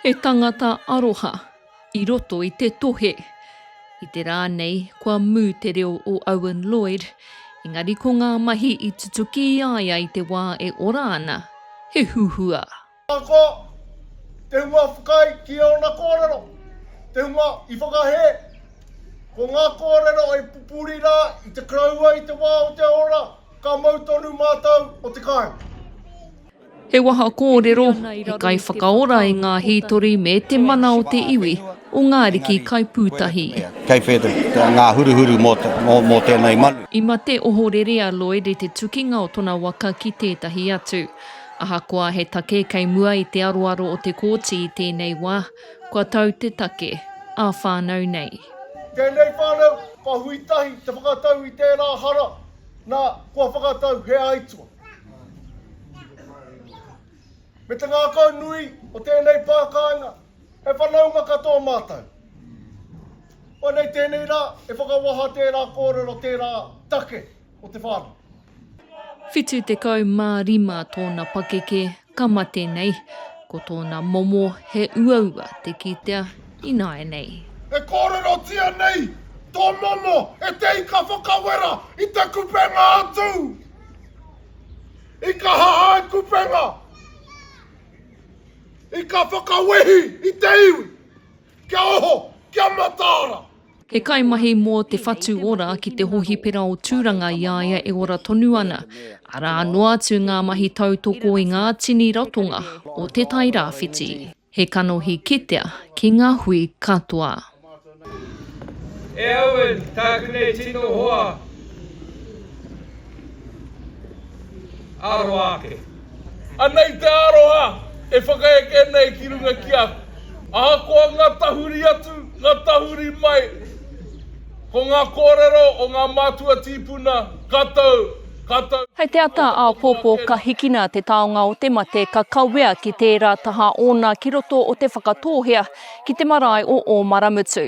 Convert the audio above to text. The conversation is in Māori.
He tangata aroha i roto i te tohe. I te rā nei, kua mū te reo o Owen Lloyd, engari ko ngā mahi i tutuki i a ia i te wā e ora ana, he huhua. Ahakoa te hunga whakaae ki ōna kōrero, te hunga i whakahē, ko ngā kōrero e pupuri rā i te Karaua i te wā o te ora, ka mau tonu mātou o te kāinga. He waha kōrero, he kaiwhakaora i ngā hītori me te mana o te iwi o ngā ariki kaipūtahi. Kei whētā ngā huruhuru mō tēnei manu. I mate ohorere a Lloyd i te tukinga o tona waka ki tētahi atu. Ahakoa he take kei mua i te aroaro o te Kōti i tēnei wā, kua tau te take, ā whānau nei. Tēnei whānau, ka hui tahi te whakatau i tērā hara, nā, kua whakatau he aituā. Me te ngākau nui o tēnei pā kāinga, he whanaunga katoa mātou. Koinei tēnei rā e whakawaha tērā kōrero tērā take o te whānau. 75 tōna pakeke ka mate nei, ko tōna momo he uaua te kitea ināianei. E kōrerotia nei tō momo e te ika whakawera i te kupenga atu. I kaha hai kupenga, i ka whakawehi i te iwi kia oho, kia mataara. He kaimahi mō te whatu ora ki te hohipera o Tūranga i a ia e ora tonu ana, arā noa atu ngā mahi tautoko i ngā tini ratonga o Te Tai Rāwhiti. He kanohi kitea ki ngā hui katoa. E Owen, tāku nei tino hoa ā roa ake. Anei te aroha e whakaeke nei ki runga ki a koe. Ahakoa ngā tahuri atu, ngā tahuri mai, ko ngā kōrero o ngā mātua tīpuna, ka tau, ka tau. Hei te ata āpōpō ka hikina te taonga o te mate ka kawea ki tērā taha ōna ki roto o te Whakatōhea ki te marae o Ōmaramutu.